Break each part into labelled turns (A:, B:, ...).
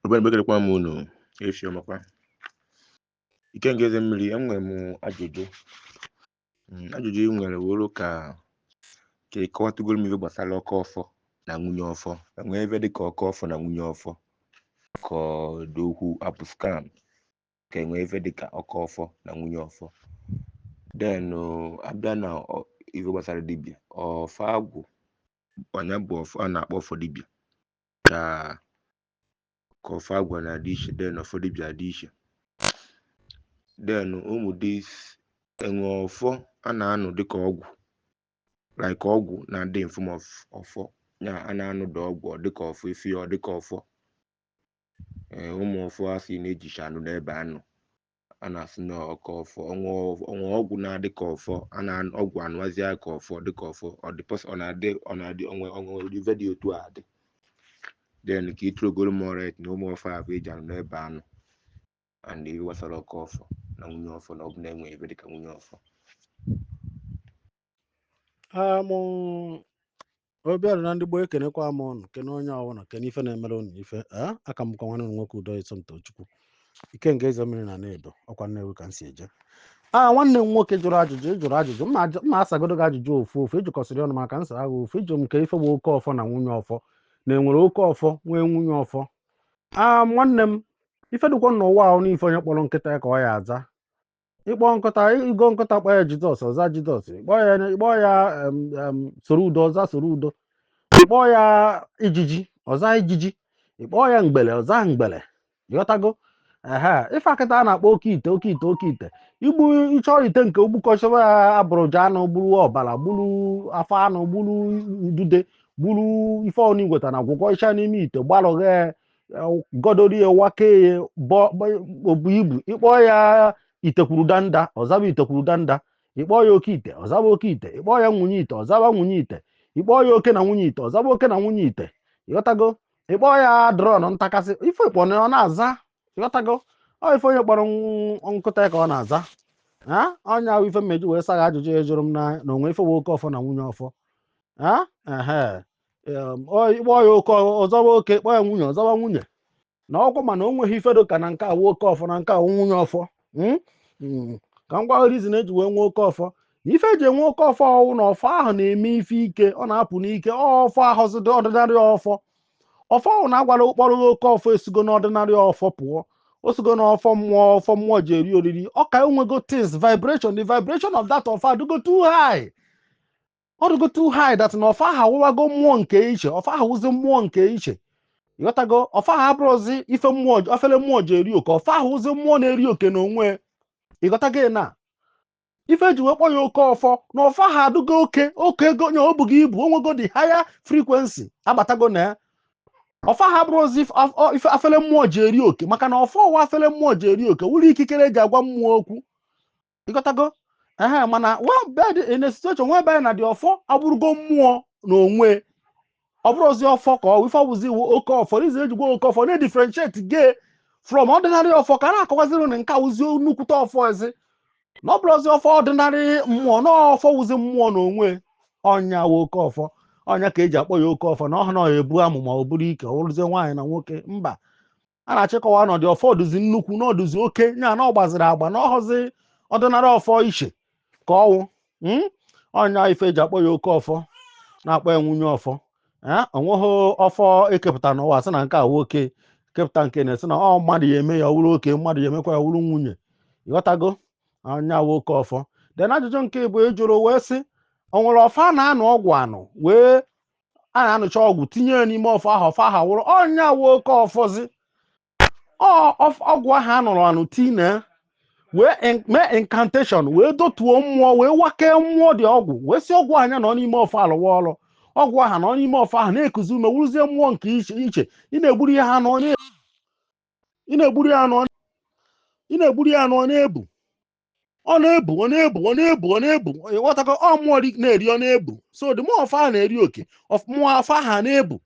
A: Obere mgbe ekelekwa m unu efifie ọmakwa Ikenga eze mmiri enwere m ajụjụ Mm, ajụjụ ị nwere wụrụ ka ka ị kọwatụgoro m ihe gbasara oke ọfọ na nwunye ọfọ enwee ife dị ka oke ọfọ na nwunye ọfọ ka ọ dị okwu abụ scam ka enwee ife dị ka oke ọfọ na nwunye ọfọ then abịa na ọ- ihe gbasara dibịa ọfọ agwụ ọ nya bụ ọfọ a na-akpọ ọfọ dibịa ka ka ọfọ agwụ na-adị iche then ọfọ dibịa adị iche then ụmụ dị enwe ọfọ a na-anụ dịka ọgwụ like ọgwụ na-adị in form of ọfọ ya a na-anụ dị ọgwụ ọ dịka ọfọ ife ya ọ dịka ọfọ ee ụmụ ọfọ a sị na-ejicha anụ n'ebe anụ a na-asị na oke ọfọ o nwe o nwe ọgwụ na-adị ka ọfọ a na ọgwụ anụwazi ya ka ọfọ dị ka ọfọ ọ dị pọs ọ na-adị ọ na-adị onwe onwe ife dị otu a dị then ka i throwgoro m more light na ụmụ ọfọ ahụ eji anụ n'ebe anụ and ihe gbasara oke ọfọ na nwunye ọfọ na ọ bụ na enwe ife dị ka nwunye ọfọ amụ obiara na ndị gboo ekenekwa m ụnụ kene onye ọbụla kene ife na-emere ụnụ ife afa m bụkwa nwanne ụnụ nwoke udo iso Tochukwu Ikenga eze mmiri na na Edo ọkwa Nnewi ka m si eje a nwanne m nwoke jụrụ ajụjụ ịjụrụ ajụjụ m na-ajụ- m na-asagodo gị ajụjụ ofu ofu ịjụkọsịrị ọnụ maka nsa agha ofu ịjụ m nke ife bụ oke ọfọ na nwunye ọfọ na enwere oke ọfọ nwee nwunye ọfọ a nwanne m ife dịkwa n'ụwa a wụ n'ife onye kpọrọ nkịta ya ka ọ ya aza ịkpọ nkụta ịgo nkụta kpọ ya Jesus ọza Jesus ịkpọ ya ịkpọ ya em, em, soro udo ọza soro udo ịkpọ ya ijiji ọza ijiji ịkpọ ya mgbele ọza mgbele ghọtago ehe ife a kịta a na-akpọ oke ite oke ite oke ite igbu ịchọ ite nke ogbukọchọba ya abụrụja anụ buru ọbara buru afọ anụ buru udude buru ife ọnụ igweta na gwọkọcha n'ime ite gbalụghe gọdorie wakeye obu ibu ịkpọ ya itekwuru danda ọzaba itekwuru danda ịkpọ ya oke ite ọzaba oke ite ịkpọ ya nwunye ite ọzaba nwunye ite ịkpọ ya oke na nwunye ite ọzaba oke na nwunye ite ịghọtago ịkpọ ya drọn ntakasị ife ịkpọ na ọ na-aza ịghọtago ọ ife onye kpọrọ nkụta ka ọ na-aza ha ọ nya wụ ife m ji wee sagha ajụjụ ya jụrụ m na o nwe ife bụ oke ọfọ na nwunye ọfọ ha ehe Em, ọ- ịkpọ ya oke ọzawa oke kpọ ya nwunye ọzawa nwunye na ọkwa mana o nweghị ife dị ka na nke a wụ oke ọfọ na nke a wụ nwunye ọfọ Mm? Mm. ka m gwa reason eji wee nwee oke ọfọ na ife eji enwe oke ọfọ ọwụ na ọfọ ahụ na-eme ife ike ọ na-apụ n'ike ọ ọfọ awụzịghị ordinary ọfọ ọfọ ahụ na-agwara ụkpọrọ gị oke ọfọ esigo n'ordinary ọfọ pụọ o sigo n'ọfọ mmụọ ọfọ mmụọ ji eri oriri ọ ka enwego intense vibration the vibration of that ọfọ adịgo too high ọ dịgo too high that na ọfọ aha wụwago mmụọ nke iche ọfọ aha wụzi mmụọ nke iche ịghọtago ọfọ aha abụrọzi ife mmụọ afele mmụọ ji eri oke ọfọ aha wụzi mmụọ na-eri oke n'onwe ịghọtago na ife eji wee kpọ ya oke ọfọ na ọfọ aha adụgo oke oke ego nya o bugo ibu o nwego the higher frequency abatago na ya ọfọ aha abụrọzi if- of- ọ- ife afele mmụọ ji eri oke maka na ọfọ wụ afele mmụọ ji eri oke wụrụ ikikere eji agwa mmụọ okwu ịghọtago ehe mana but in a situation whereby na the ọfọ abụrụgo mmụọ n'onwe ọ bụrọzi ọfọ ka ọ ife ọ bụzi wụ oke ọfọ n'izi eji akpọ oke ọfọ na-edifferentiate ya from ordinary ọfọ ka a na-akọwaziri na nke a wụzi nnukwute ọfọ ezi na ọ bụrọzi ọfọ ordinary mmụọ na ọfọ wụzi mmụọ n'onwe ọ nya wụ oke ọfọ ọ nya ka eji akpọ ya oke ọfọ na ọha na ọha ebu amụma ọ bụrụ ike ọ bụrụzie nwaanyị na nwoke mba a na-achọ ịkọwa na the ọfọ ọ dụzi nnukwu na ọ dụzi oke ya na ọ gbaziri agba na ọhọzi ordinary ọfọ i che ka ọ wụ mm? ọ nya ife eji akpọ ya oke ọfọ na-akpọ ya nwunye ọfọ ee o nweghị ọfọ ekepụta n'ụwa sị na nke a wụ oke kepụta nke na-esi na ọ mmadụ ya eme ya ọ wụrụ oke mmadụ ya emekwa ya ọ wụrụ nwunye ịghọtago ọ nya wụ oke ọfọ then ajụjụ nke ịbụọ ị jụrụ wee sị o nwere ọfọ a na-anụ ọgwụ anụ wee a na-anụcha ọgwụ tinye ya n'ime ọfọ ahụ ọfọ ahụ wụrụ ọ nya wụ oke ọfọzi ọgwụ ahụ a nụrụ anụ tinye wee mee incantation wee dọtuo mmụọ wee wakee mmụọ the ọgwụ wee si ọgwụ aha nya nọ n'ime ọfọ alụwa ọrụ ọgwụ ahụ nọ n'ime ọfọ ahụ na-ekuzi ume wụrụzie mmụọ nke iche iche ị na-egburu ya anụ ị na-egburu ya anụ ị na-egburu ya anụ ọ na-ebu ọ na-ebu ọ na-ebu ọ na-ebu ọ na-ebu ịghọtago ọ mmụọ dị na-eri ọ na-ebu so the mmụọ ọfọ ahụ na-eri oke ọf- mmụọ ọfọ ahụ a na-ebu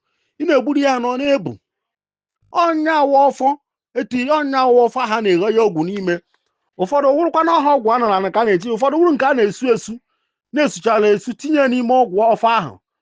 A: ị na-egburu ya na ọ na-ebu ọ nya wụ ọfọ etu ọ nya wụ ọfọ aha na-eghe ya ọgwụ n'ime ụfọdụ wụrụkwa na ọha ọgwụ a nụrụ anụ ka a na-eti ụfọdụ wụrụ nke a na-esu esu na-esuchara esu tinye ya n'ime ọgwụ ọfọ ahụ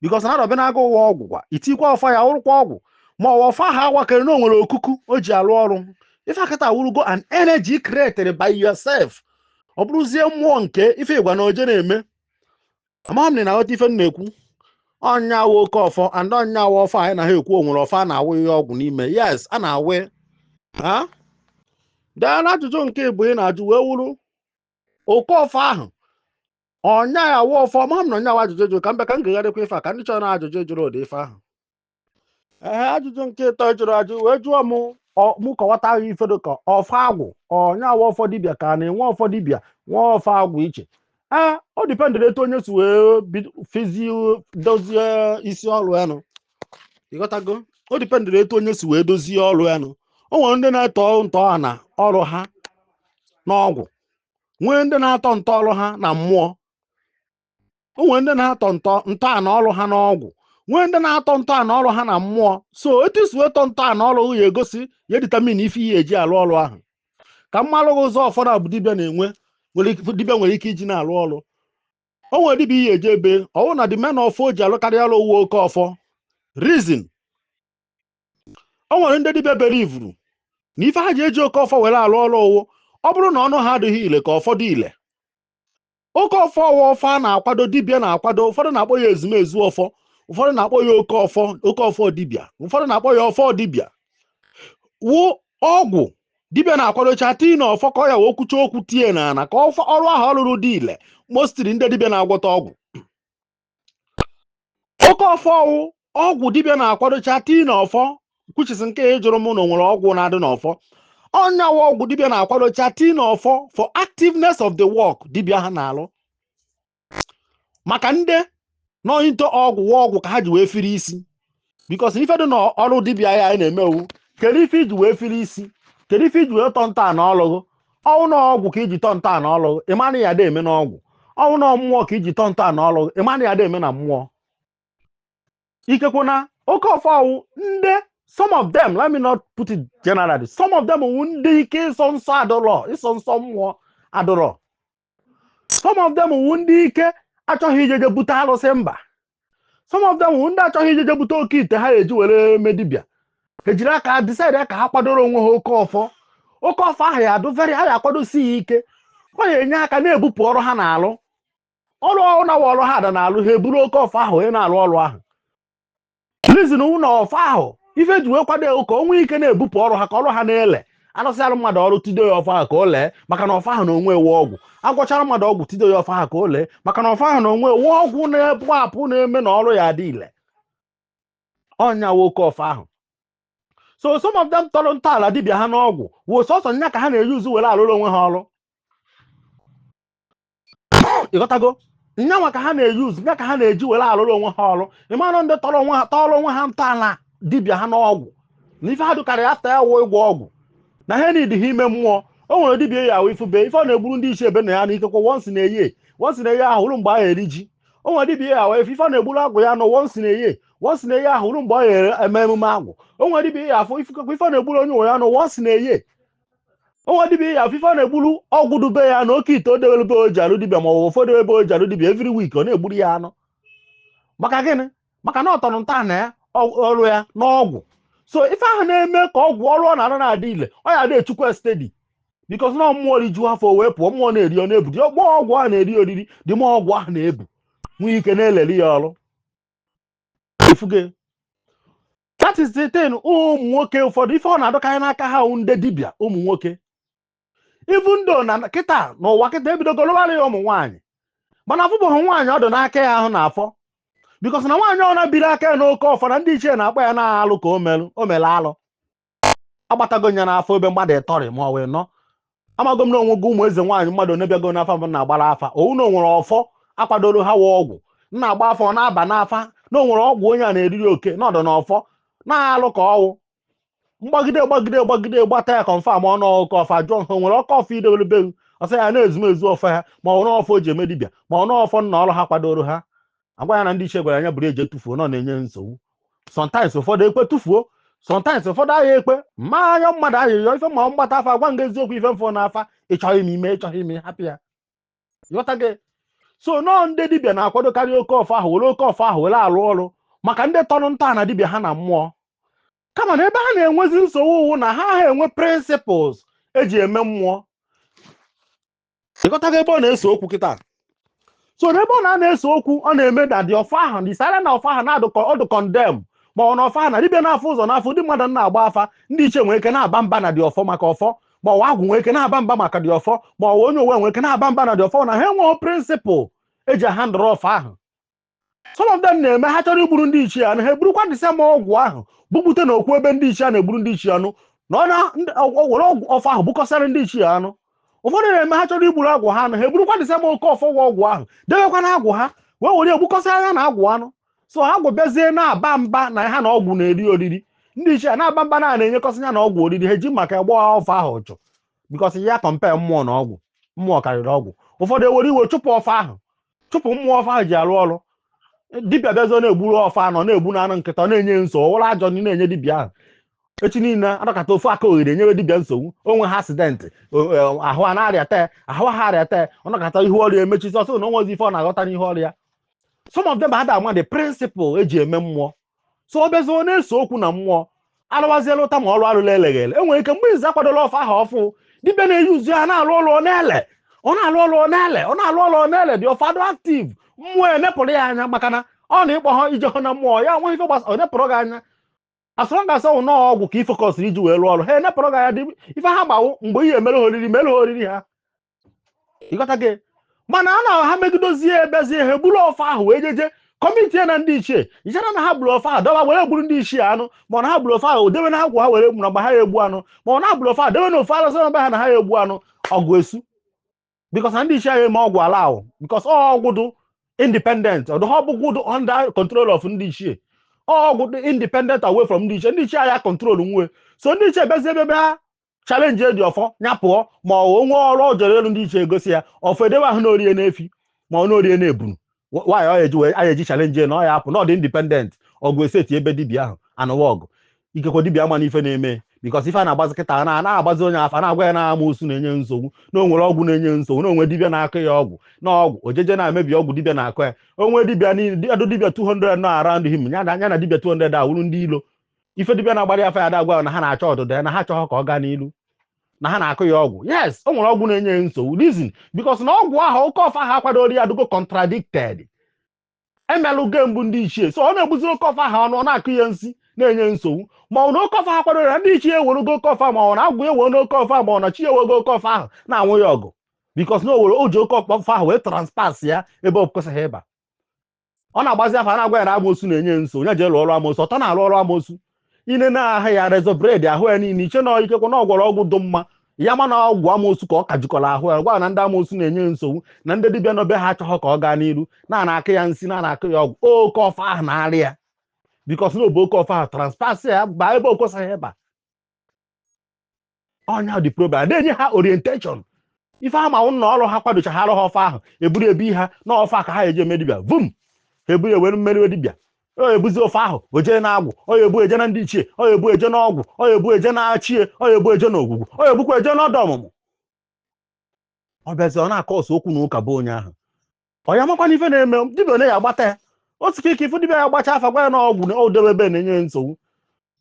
A: because na dibịa na-aga ụwa ọgwụ kwa itikwa ọfọ ya wụrụkwa ọgwụ ma ọ wụ ọfọ aha a wakere na o nwere okuku o ji alụ ọrụ ife a kịta awụrụgo an energy created by yourself ọ bụrụzie mmụọ nke ife ị gwa nya o je na-eme amaghị m na ị na-aghọta ife m na-ekwu ọ nya wụ oke ọfọ and ọ nya wụ ọfọ anyị na-ekwu o nwere ọfọ a na-awụnye ọgwụ n'ime yes a na-awụ ha then ajụjụ nke ịbụọ ị na-ajụ wee wụrụ oke ọfọ ahụ ọ nya wụ ọfọ ama m na ọ nya wụ ajụjụ ị jụrụ ka mbe ka m gegharịkwa ife a ka m dị sure na ajụjụ ị jụrụ ụdị ife ahụ ee ajụjụ nke ịtọ ị jụrụ ajụ wee jụọ m ọ- mụ kọwatụ ife dị ka ọfọ agwụ ọ nya wụ ọfọ dibịa ka a na-enwe ọfọ dibịa nwee ọfọ agwụ iche ee ọ dependịrị etu onye si wee bido- fizi dozie isi ọrụ ya nụ ịghọtago ọ dependịrị etu onye si wee dozie ọrụ ya nụ o nwere ndị na-eto ntọala ọrụ ha n'ọgwụ nwee ndị na-atọ ntọ ọrụ ha na mmụọ o nwere ndị na-atọ ntọ ntọala ọrụ ha n'ọgwụ nwee ndị na-atọ ntọala ọrụ ha na mmụọ so etu i si wee tọ ntọala ọrụ ya egosi ya determine ife ị ya-eji arụ ọrụ ahụ ka m malụ gị ụzọ ọfọ naabọ dibịa na-enwe dibịa nwere ike iji na-arụ ọrụ o nwere dibịa ị ya-eje be ọ wụrụ na the main ọfọ o ji alụkarị ọrụ wụ oke ọfọ reason o nwere ndị dibịa believe-uru na ife ha ji eji oke ọfọ were alụ ọrụ wụ ọ bụrụ na ọnụ ha adịghị ile ka ọfọ dị ile oke ọfọ ọ wụ ọfọ a na-akwado dibịa na-akwado ụfọdụ na-akpọ ya ezumezu ọfọ ụfọdụ na-akpọ ya oke ọfọ oke ọfọ dibịa ụfọdụ na-akpọ ya ọfọ dibịa wụ ọgwụ dibịa na-akwadocha tii na ọfọ ka ọ ya-awụ o kwucha okwu tie na ana ka ọfọ ọrụ ahụ ọ lụrụ dị ile mostly ndị dibịa na-agwọta ọgwụ oke ọfọ wụ ọgwụ dibịa na-akwadocha tii na ọfọ which is nke a ị jụrụ mụ na o nwere ọgwụ na-adị n'ọfọ ọ nya wụ ọgwụ dibịa na-akwadocha tii na ọfọ for activeness of the work dibịa ha na-alụ maka ndị nọ into ọgwụ wụ ọgwụ ka ha ji wee firi isi because ife dị na ọrụ dibịa a anyị na-eme wụ kedu ife i ji wee fili isi kedu ife i ji wee tọ ntọana ọlụ ghụ ọ wụ na ọgwụ ka i ji tọ ntọana ọlụ ghụ ị mana ị ya-adị eme na ọgwụ ọ wụ na mmụọ ka i ji tọ ntọana ọlụ ghụ ị mana ị ya-adị eme na mmụọ ikekwe na oke ọfọ ọ wụ ndị some of them let me not put it generally some of them wụ ndị ike ịsọ nsọ adụrọ ịsọ nsọ mmụọ adụrọ some of them wụ ndị ike achọghị ijeje bute alụsị mba some of them wụ ndị achọghị ijeje bute oke ite ha ya-eji were me dibịa ha ejiri aka decide ka ha kwadoro onwe ha oke ọfọ oke ọfọ ahụ ya adụ very ha ya akwadosi ya ike ọ ya enye aka na-ebupụ ọrụ ha na-alụ ọrụ ọrụ na ọrụ ha ada na-alụ ha eburu oke ọfọ ahụ wee na-alụ ọrụ ahụ reason wụ na ọfọ ahụ ife e ji wee kwado ya wụ ka o nwee ike na-ebupụ ọrụ ha ka ọrụ ha na-ele alụsịara mmadụ ọrụ tido ya ọfọ ahụ ka o lee maka na ọfọ ahụ na onwe ya wụ ọgwụ agwọchara mmadụ ọgwụ tido ya ọfọ ahụ ka o lee maka na ọfọ ahụ na onwe ya wụ ọgwụ na-ebu apụ na-eme na ọrụ ya adị ile ọ nya wụ oke ọfọ ahụ so some of them tọrọ ntọala dibịa ha n'ọgwụ wụ sọsọ nya ka ha na-e-use were alụrụ onwe ha ọrụ ị ghọtago nyanwa ka ha na-e-use ya ka ha na-eji were alụrụ onwe ha ọrụ ị mara ndị tọrọ onwe ha tọrọ onwe ha ntọala dibịa ha n'ọgwụ na ife ha dụkarị after ya wụ ịgwọ ọgwụ na ha needịha ime mmụọ o nwere dibịa ị ya-ahụ ifube ife ọ na-egburu ndị isi ebe na ya na ikekwe once in a year once in a year ahụ wụrụ mgbe a ya-eri ji o nwere dibịa ị ya-ahụ ife ọ na-egburu agwụ ya na once in a year once in a year ahụ wụrụ mgbe ọ ya eme emume agwụ o nwere dibịa ị ya-afụ ife ọ na-egburu onye nwe ya na once in a year onwe dibia ị ya afụ ife ọ na-egburu ọgwụ dobe ya na oke ite o dewere ebe o ji alụ dibia ma ọ bụ ụfọdụ ebe o ji alụ dibia every week ọ na-egburu ya anụ maka gịnị maka na ọ tọrọ ntọala ya ọ- ọrụ ya n'ọgwụ so ife ahụ na-eme ka ọgwụ ọrụ ọ na-arụ na-adị ile ọ ya adị echukwa steady because na mmụọ riju afọ wee pụọ mmụọ na-eri ọ na-ebu the more ọgwụ ahụ na-eri oriri the more ọgwụ ahụ na-ebu nwee ike na-elere ya ọrụ ịfụgo that is the thing ụmụ nwoke ụfọdụ ife ọ na-adịkarị n'aka ha wụ ndị dibịa ụmụ nwoke even though na kịta n'ụwa kịta ebidogo lụwara ya ụmụ nwaanyị mana afụbeghị nwaanyị ọ dị n'aka ya ahụ n'afọ because na nwaanyị ọbụna biri aka ya n'oke ọfọ na ndị ichie na-akpọ ya na alụ ka o merụ o mere alụ agbatago ya n'afa ebe mmadụ ịtọrị ma ọ wụ anọ amago m na onwega ụmụ eze nwaanyị mmadụ one bịago n'afa m na-agbara afa owu na onwere ọfọ akwadoro ha wa ọgwụ m na-agba afa ọ na-aba n'afa na onwere ọgwụ onye a na-eriri oke nọdụ na ọfọ na alụ ka ọwụ mgbagide gbagide gbagide gbata ya confirm ọnụ oke ọfọ jụọ ha onwere oke ọfọ idebere be gị ọ sị ya na ezumezu ọfọ ha ma ọ n'ọfọ o ji eme dibịa ma ọ n'ọfọ nna ọrụ ha kwadoro ha agwa ya na ndị ichie gwara na ya buru jee tụfuo na ọ na-enye nsogbu sometimes ụfọdụ ekwe tụfuo sometimes ụfọdụ aha ekwe ma anya mmadụ ahịa ife ma mgbata afa gwa gị eziokwu ife m fụ n'afa ịchọọ gị mee ịchọọ gị hapụ ya ịghọtago so nọọ ndị dibịa na-akwadokarị oke ọfọ ahụ were oke ọfọ ahụ were alụ ọrụ maka ndị tọrọ ntọala dibịa ha na mmụọ kama na ebe ha na-enwezi nsogbu wụ na ha aha enwe principles eji eme mmụọ ịghọtago ebe ọ na-ese okwu kịta so n'ebe ọ na-ese okwu ọ na-eme na the ọfọ ahụ na is either na ọfọ ahụ na-adụkọ ọdụ condemn ma ọ wụ na ọfọ ahụ na dibịa na-afụ ụzọ n'afa ndị mmadụ na-agba afa ndị ichie nwere ike na-aba mba na the ọfọ maka ọfọ ma ọ wụ agwụ nwere ike na-aba mba maka the ọfọ ma ọ wụ onye ụwa nwere ike na-aba mba na the ọfọ na ha enweghị principle eji ahandle ọfọ ahụ some of them na-eme ha chọrọ igburu ndị ichie anụ ha eburukwa the same ọgwụ ahụ bupụta na okwu ebe ndị ichie a na-egburu ndị ichie anụ na ọ na- ndị- ọ- ọ were ọgwụ ọfọ ahụ gbukọsara ndị ichie anụ ụfọdụ na-eme ha chọrọ igburu agwụ ha anụ ha eburukwa the same oke ọfọ nwa ọgwụ ahụ debekwa na agwụ ha wee were egbukọsara ya na agwụ anụ so agwụ abịazie na-aba mba na ha na ọgwụ na-eri oriri ndị ichie a na-aba mba na na-enyekọsị ya na ọgwụ oriri ha eji maka ịgba ọfọ ahụ ọchụ because ị ya compare mmụọ na ọgwụ mmụọ karịrị ọgwụ ụfọdụ ewere iwe chụpụ ọfọ ahụ chụpụ mmụọ ọfọ ahụ ji arụ ọrụ dibịa bịazi ọ na-egburu ọfọ anụ na-egbu na anụ nkịta ọ na-enye nso ọwụrụ ajọ ndị na-enye dibịa ahụ echi niile ọnọkata ofu aka oghere enyewe dibịa nsogbu onwee accident ahụ a na-arịa tee ahụ ha arịa tee ọnọkata ihu ọrụ ya emechizi ọ sị na onwezi ife ọ na-aghọta n'ihu ọrụ ya some of them ada ama the principle eji eme mmụọ so ọ bịazi ọ na-ese okwu na mmụọ alụwaziela ụta ma ọrụ alụla eleghị ele e nwere ike mgbe izi akwadola ọfa aha ofu dibịa na-eyi uzu ya na-alụ ọrụ ọ na-ele ọ na-alụ ọrụ ọ na-ele ọ na-alụ ọrụ ọ na-ele dị ọfa dụ active mmụọ enepụrụ ya anya maka na ọ na ịkpọ ha ije hụ na mmụọ ya nwa ife gbasa ọ nepụrụ gị anya as long as ọ wụ na ọgwụ ka i focusịrị iji wee rụọ ọrụ ha enepụrụ gị anya dị ife ha gbawụ mgbe ihe emere ha oriri mere ha oriri ha ị ghọtago mana a na ha megidozie ebezie ha eburu ọfa ahụ wee jeje commit ya na ndị ichie ichere na ha buru ọfa ahụ dọba were gbuoro ndị ichie anụ ma ọ na ha buru ọfa ahụ debe na ha kwa ha were gburu mgbe ha ya egbu anụ ma ọ na buru ọfa ahụ debe na ofe alụsị na ha na ha ya egbu anụ ọgụ esu because na ndị ichie ahụ eme ọgwụ ala ahụ because ọgwụ dụ independent ọ dụha ọgwụ dụ under control of ndị ichie ọgwụ dụ independent away from ndị ichie ndị ichie ahụ ya control nwe so ndị ichie bezi ebe ha challenge edi ọfọ ya pụọ ma o nwe ọrụ ọ jere ịlụ ndị ichie egosi ya ọfọ edewe ahụ na o rie na efi ma ọ na o rie na ebunu nwaanyị ọ eji wee eji challenge na ọ ya apụ na ọ dị independent ọgụ eseti ebe dibia ahụ anụwa ọgụ ikekwe dibia ma na ife na-eme because ife a na-agbazi kịta na na-agbazi onye afa na-agwa ya na amosu na-enye nsogbu na o nwere ọgwụ na-enye nsogbu na o nwe dibia na-akọ ya ọgwụ na ọgwụ o jeje na-emebi ọgwụ dibia na-akọ ya onwe dibia niile dibia 200 nọ around him ya na dibia 200 awụrụ ndị ilo ife dibịa na-agbara ya afa ya adagwa na ha na-achọ ọdịda ya na ha chọghọ ka ọ gaa n'ilu na ha na-akụ ya ọgwụ yes o nwere ọgwụ na-enye ya nsogbu reason because na ọgwụ ahụ oke ọfa ahụ akwadoro ya adịgo contradicted emelụ ge mbụ ndị ichie so ọ na-egbuziri oke ọfa ahụ anụ ọ na-akụ ya nsi na-enye nsogbu ma ọ na oke ọfa ha kwadoro ya ndị ichie ewerugo oke ọfa ma ọ na agwụ ewego oke ọfa ma ọ na chi ewego oke ọfa ahụ na-anụ ya ọgụ because na o were o ji oke ọfa ahụ wee trespass ya ebe ọ kwesịghị ịba ọ na-agbazi afa a na-agwa ya na amosu na-enye nso onye jee lụọ ọrụ amosu ọtọ na-arụ ọrụ amosu ine na-ahụ ya razor blade ahụ ya niile iche na ikekwe na ọ gwọrọ ọgwụ dị mma ya ma na ọgwụ amosu ka ọ ka jikọrọ ahụ ya gwa na ndị amosu na-enye nsogbu na ndị dibịa nọ be ha achọghọ ka ọ gaa n'iru na na-akụ ya nsi na na-akụ ya ọgwụ oke ọfa ahụ na-eri ya because na o bu oke ọfa ahụ trespass ya baa ebe o kwesịghị ịba ọ nya dị problem na-enye ha orientation ife ha ma ụlọ ọrụ ha kwadocha ha arụ ha ọfa ahụ eburu ebi ha na ọfa ka ha eji eme dibịa vum ha eburu ewere mee dibịa onye ebuzi ọfa ahụ o jee na agwụ onye ebu eje na ndị ichie onye ebu eje na ọgwụ onye ebu eje na chi onye ebu eje na ogwugwu onye ebukwa eje na ọda ọmụmụ ọ bịazi ọ na-acause okwu na ụka be onye ahụ ọ ya makwana ife na-eme dibịa onye ya agbata ya otu ka ike ifu dibịa ya gbacha afa gwa ya na ọgwụ na o debe ebe na-enye ya nsogbu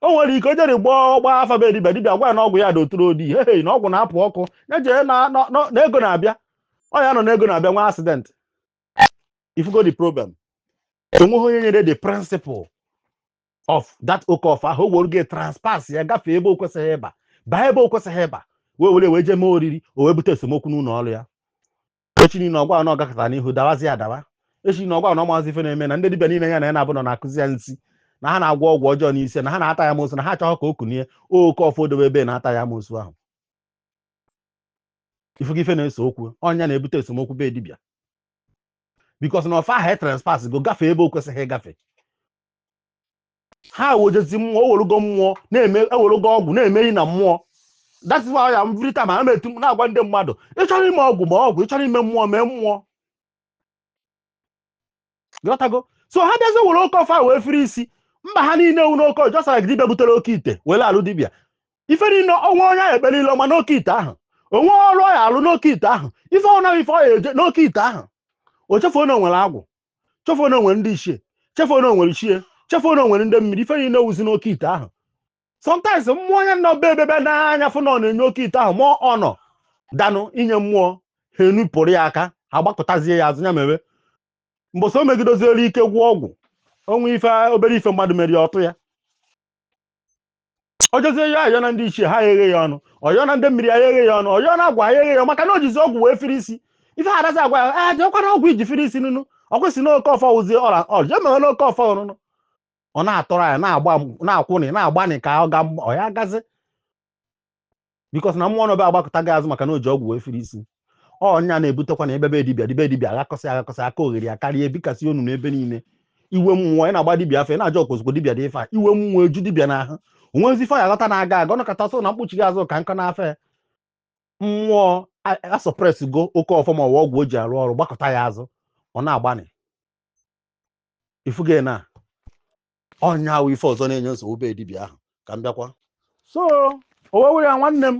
A: o nwere ike o jere gbaa ọgba afa be dibịa dibịa gwa ya na ọgwụ ya dị oturu odi hei na ọgwụ na-apụ ọkụ ya jee na na- na- na ego na-abịa ọ ya nọ na ego na-abịa nwee accident i fugo the problem enweghị onye nyere the principle of that oke ọfa ahụ o were ji trespass ya gafee ebe o kwesịghị ịba baa ebe o kwesịghị ịba wee were wee jee mee oriri o wee bute esemokwu n'ụlọ ọrụ ya echi niile ọ gwa na ọ gakata n'ihu dawazi adawa echi niile ọ gwa na ọ mazi ife na-eme na ndị dibịa niile ya na ya na-abụ nọ na-akụzi ya nsi na ha na-agwọ ọgwụ ọjọọ n'isi na ha na-ata ya amosu na ha achọghị ka o kunie oke ọfọ o dobe ebe na-ata ya amosu ahụ ị fụgo ife na-ese okwu ọ ya na-ebute esemokwu be dibịa because na ọfa ahụ e trespass go gafee ebe o kwesịghị ịgafe ha ewejezi mmụọ ewerugo mmụọ na-eme ewerugo ọgwụ na-eme ihe na mmụọ that's why ya every time ana m eti na-agwa ndị mmadụ ị chọrọ ime ọgwụ mee ọgwụ ị chọrọ ime mmụọ mee mmụọ ghọtago so ha bịazi were oke ọfa wee firi isi mba ha niile ewu n'oke just like dibịa butere oke ite were alụ dibịa ife niile o nwe onye ahụ ekpere ile ọma n'oke ite ahụ o nwe ọrụ ọ ya alụ n'oke ite ahụ ife ọnaghị ife ọ ya eje n'oke ite ahụ o chefuo na o nwere agwụ chefuo na o nwere ndị ichie chefuo na o nwere ichie chefuo na o nwere ndị mmiri ife niile wuzi n'oke ite ahụ sometimes mmụọ ya nọ be ebebe n'anya fụ na ọ na-enye oke ite ahụ ma ọ nọ danụ inye mmụọ ha enupụrụ ya aka ha gbakụtazie ya azụ ya mere mbọsị o megidoziere ike gwụọ ọgwụ o nwe ife obere ife mmadụ mere ya ọ tụ ya ọ jọzie ya ayọ na ndị ichie ha eghe ya ọnụ ọ yọ na ndị mmiri ya eghe ya ọnụ ọ yọ na agwụ ya eghe ya ọnụ, maka na o jizi ọgwụ wee firi isi ife ha adazi agwa ya jekwuru ọgwụ i ji firi isi nụnụ ọ kwesị na oke ọfọ wụzie ọra ọjọ emeghe na oke ọfọ nụnụ ọ na-atọrọ ya na-agba na-akwụnị na-agbanị ka ọ ga ọ ya gazi because na mmụọ nọ be ya agbakụtago ya azụ maka na o ji ọgwụ wee firi isi ọ ya na-ebutekwa na ebebe dibịa dibịa dibịa aghakọsị aghakọsị aka oghere ya karịa ebikasị onu n'ebe niile iwe mmụọ ị na-agba dibịa afọ ị na-ajọ okozugbo dibịa dị ife a iwe mmụọ eju dibịa n'ahụ onwezi ife ya ghọta na-aga aga ọnọkọta ọsọ na mkpuchi gị azụ ka nkọ n'afọ ya mmụọ asuppress go oke ọfọ ma ọwa ọgwụ o ji arụ ọrụ gbakụta ya azụ ọ na-agbanị ị fụgo na ọ ya wụ ife ọzọ na-enye nsogbu be dibịa ahụ ka m bịakwa so owewe ya nwanne m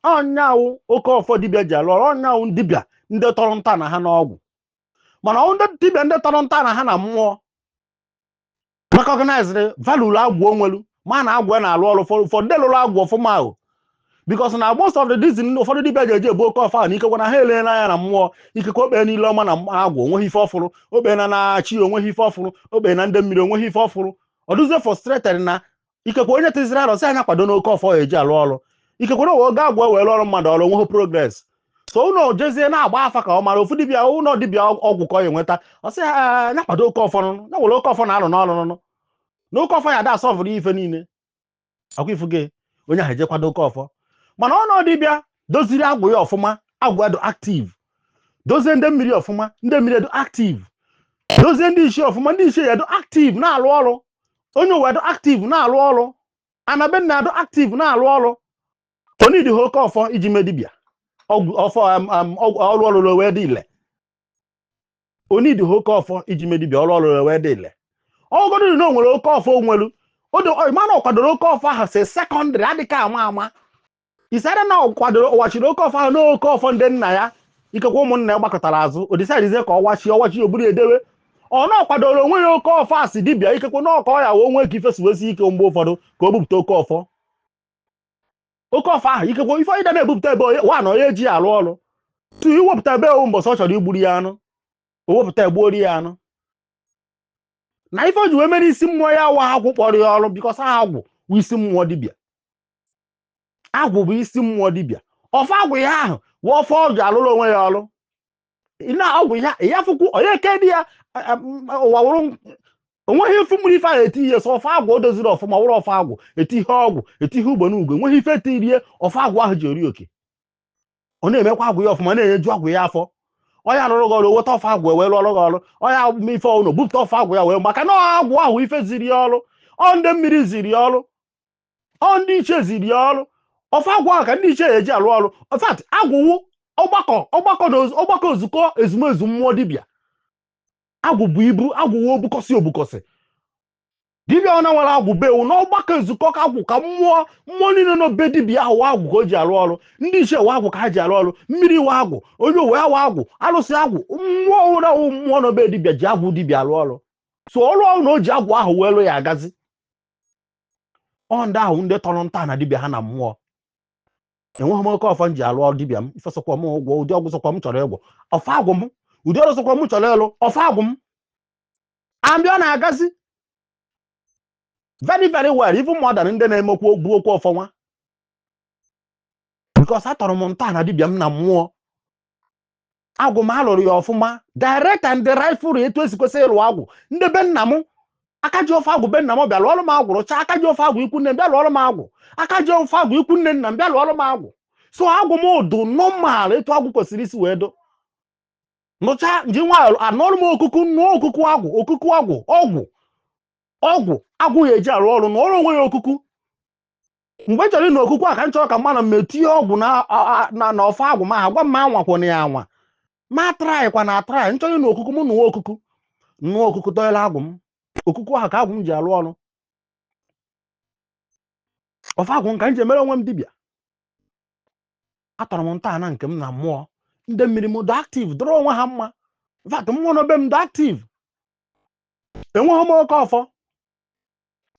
A: ọ ya wụ oke ọfọ dibịa ji alụ ọrụ ọ ya wụ dibịa ndị tọrọ ntọ ana ha n'ọgwụ mana ọ wụ ndị dibịa ndị tọrọ ntọ ana ha na mmụọ recognized value agwụ o nwelu ma na agwụ ya na-alụ ọrụ for ndị lụrụ agwụ ọfụma ahụ because na most of the reason ụfọdụ dibịa ji eji ebu oke ọfa na ikekwa na ha elee n'anya na mmụọ ikekwa o kpee ile ọma na agwụ o nweghị ife ọ fụrụ o kpee na ndị ichie o nweghị ife ọ fụrụ o kpee na ndị mmiri o nweghị ife ọ fụrụ ọ dụzie frustrated na ikekwa onye tụzịrị arọ sị na ya kwado n'oke ọfọ ya eji alụ ọrụ ikekwe na oge agwụ ewee lụọ ọrụ mmadụ ọrụ o nweghị progress so ọ nọ jezie na-agba afa ka ọ mara ofu dibịa ụlọ dibịa ọgwụ ka ọ ya enweta ọ sị ya na ya kwado oke ọfọ nụnụ ya nwere oke ọfọ na-alụ n'ọrụ nụnụ na oke ọfọ ya da asolve-ụrụ ife niile akwa ifuge onye ahụ eje kwado oke ọfọ mana ọ na dibịa doziri agwụ ya ọfụma agwụ ya dị aktiv dozie ndị mmiri ọfụma ndị mmiri dị aktiv dozie ndị ichie ọfụma ndị ichie ya dị aktiv na-alụ ọrụ onye ụwa dị aktiv na-alụ ọrụ ana be nna ya dị aktiv na-alụ ọrụ o nidiha oke ọfọ iji mee dibịa ọgwụ ọfọ am- am- ọgwụ- ọrụ ọ lụlụ wee dị ile o nidiha oke ọfọ iji mee dibịa ọrụ ọ rụrụ wee dị ile ọ wụgodu na o nwere oke ọfọ o nwelu mana ọ kwadoro oke ọfọ ahụ si sekọndịrị dịka ama ama isara na ọ kwadoro ọ wachiri oke ọfọ ahụ n'oke ọfọ ndị nna ya ikekwe ụmụnna ya gbakụtara azụ o disaidizie ka ọ wachi ọwachi o buru dewe ọ na ọ kwadoro onwe ya oke ọfọ a si dibịa ikekwe na ọ ka ọ ya wee nwee ka ife si wee sie ike mgbe ụfọdụ ka o bupụta oke ọfọ oke ọfọ ahụ ikekwe ife onye na-ebupụta ebe wa na onye ji ya arụ ọrụ tu iwepụta ebe ọ wụ mbọsị ọ chọrọ igburu ya anụ o wepụta gbuoro ya anụ na ife o ji wee mere isi mmụọ ya wụ agwụ kpọrọ ya ọrụ bikọs agwụ bụ isi mmụọ dibịa agwụ bụ isi mmụọ dibịa ọfọ agwụ ya ahụ wụ ọfọ ọ ji alụrụ onwe ya ọrụ na ọgwụ ya ya fụkwu onye ke dị ya ụwa wụrụ o nweghị ife mere ife ahụ eti ihe sọ ọfọ agwụ o doziri ọfụma wụrụ ọfọ agwụ eti ihe ọgwụ eti ihe ugbo n'ugbo enweghị ife tiri ihe ọfọ agwụ ahụ ji eri oke ọ na-emekwa agwụ ya ọfụma na-enyeju agwụ ya afọ onye arụrụ gị ọrụ weta ọfọ agwụ wee lụọrụ gị ọrụ onye ma ife ọnụ bupụta ọfọ agwụ ya wee maka na agwụ ahụ ife ziri ya ọrụ ọ ndị mmiri ziri ya ọrụ ọ ndị ichie ziri ya ọrụ ọfọ agwụ ahụ ka ndị ichie ya eji alụ ọrụ in fact agwụ wụ ọgbakọ ọgbakọ na oz- ọgbakọ nzukọ ezumezu mmụọ dibịa agwụ bụ ibu agwụ wụ ọ bikọs ọ bikọs dibịa ọwụna nwere agwụ be ya ọ wụ na ọgbakọ nzukọ ka agwụ ka mmụọ mmụọ niile nọ be dibịa ahụ ọ agwụ ka o ji alụ ọrụ ndị ichie ọ agwụ ka ha ji alụ ọrụ mmiri ọ agwụ onye ụwa ọ agwụ alụsị agwụ mmụọ ọwụla wụ mmụọ nọ be dibịa ji agwụ dibịa alụ ọrụ so ọrụ ọwụna o ji agwụ ahụ wee lụ ya agazi ọ ndị ahụ ndị tọrọ ntọana dibịa ha na mmụọ enweghị m oke ọfọ m ji alụ ọrụ dibịa m ife sọkwa m ụgwọ ụdị ọgwụ sọkwa m chọrọ ịgwọ ọfọ agwụ m ụdị ọrụ sọkwa m chọrọ ịlụ ọfọ agwụ m ambịa ọ na-agazi very very well even more than ndị na-eme ka ọ bụ okwu ọfọ nwa because atọrọ m ntọana dibịa m na mmụọ agwụ m alụrụ ya ọfụma direct and rightful etu esi kwesị ịlụ agwụ ndị be nna m aka ji ọfọ agwụ be nna m bịa lụọrụ m agwụ rụchaa aka ji ọfọ agwụ ikwu nne m bịa lụọrụ m agwụ aka ji ọfọ agwụ ikwu nne nna m bịa lụọrụ m agwụ so agwụ m dụ nọmal etu agwụ kwesịrị isi wee dụ nụcha nji nwa anụrụ m okuku nụọ okuku agwụ okuku agwụ ọgwụ ọgwụ agwụ ya eji arụ ọrụ na ọrụ onwe ya okuku mgbe m chọrọ ịnụ okuku a ka m chọrọ ka m manụ m etinye ọgwụ na ọfọ agwụ m ha gwa m m anwakwana ya anwa m atraịkwana atraị m chọrọ ịnụ okuku m nụwa okuku nụwa okuku dọnyelụ agwụ m okuku ahụ ka agwụ m ji alụ ọrụ ọfọ agwụ m ka m ji emere onwe m dibịa atọrọ m ntọala nke m na mmụọ ndị mmiri m dị active dọrọ onwe ha mma but mmụọ nọ be m dị active enweghị m oke ọfọ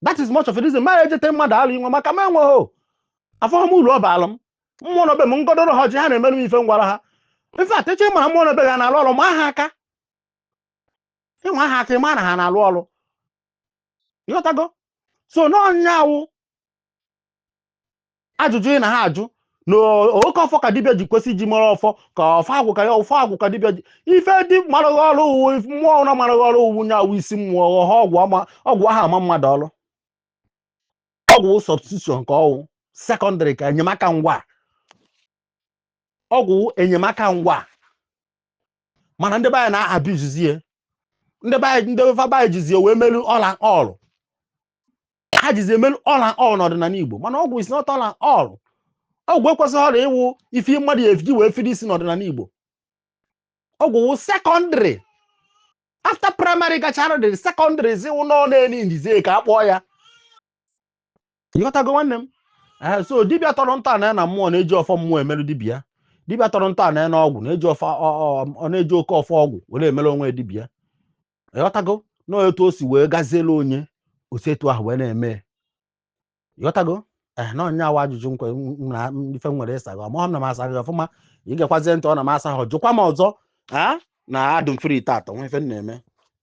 A: that is much of a reason ma ejete mmadụ alụ inwe maka m enweghị afụghị m uru ọ baalụ m mmụọ nọ be m m gọdoro ha ji ha na-emere m ife m gwara ha in fact ị chọ ịmara mmụọ nọ be gị ha na-alụ ọrụ maa ha aka ị maa ha aka ị ma na ha na-alụ ọrụ ịghọtago so n'ọ nya awụ ajụjụ ị na ha ajụ na oke ọfọ ka dibịa ji kwesị iji mara ọfọ ka ọfọ agwụ ka ya ọfọ agwụ ka dibịa ji ife dị maraghị ọrụ ọ wụ mmụọ ụra maraghị ọrụ ọ wụ nya awụ isi mmụọ ọha ọgwụ ama ọgwụ aha ama mmadụ ọrụ ọgwụ substitution ka ọ wụ secondary ka enyemaka ngwa ọgwụ enyemaka ngwa mana ndị be anyị na-abizizie ndị be anyị ndị be anyị jizie wee melu all and all ha jizi emelu all and all n'ọdịnala Igbo mana ọgwụ is not all and all ọgwụ ekwesịghị ọrịa ịwụ ife mmadụ ya-eji wee fide isi n'ọdịnala Igbo ọgwụ wụ secondary after primary gachara the secondary zi wụ nọ na-eni ndizie ka a kpọọ ya ịghọtago nwanne m Eh, so dibịa tọrọ ntọ na ya na mmụọ na-eji ọfọ mmụọ emerụ dibịa dibịa tọrọ ntọ na ya na ọgwụ na-eji ọfọ ọ- ọ- ọ na-eji oke ọfọ ọgwụ were emere onwe ya dibịa ịghọtago na etu o si wee gazielu onye o si etu ahụ wee na-eme ya. ịghọtago ee na ọ nya awụ ajụjụ nke m na m- ife m nwere ịsa gị amahọ m na m asa gị ọfụma ị gekwazie ntị ọ na m asahọ jụkwa m ọzọ a na adụ m free taata enwe ife m na-eme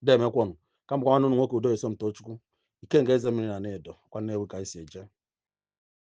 A: demekwọnụ kama ka ọnụ ụnụ nwoke udo esomtochukwu ikenga eze mmiri n'anaedo kwa nnewi ka anyị si eje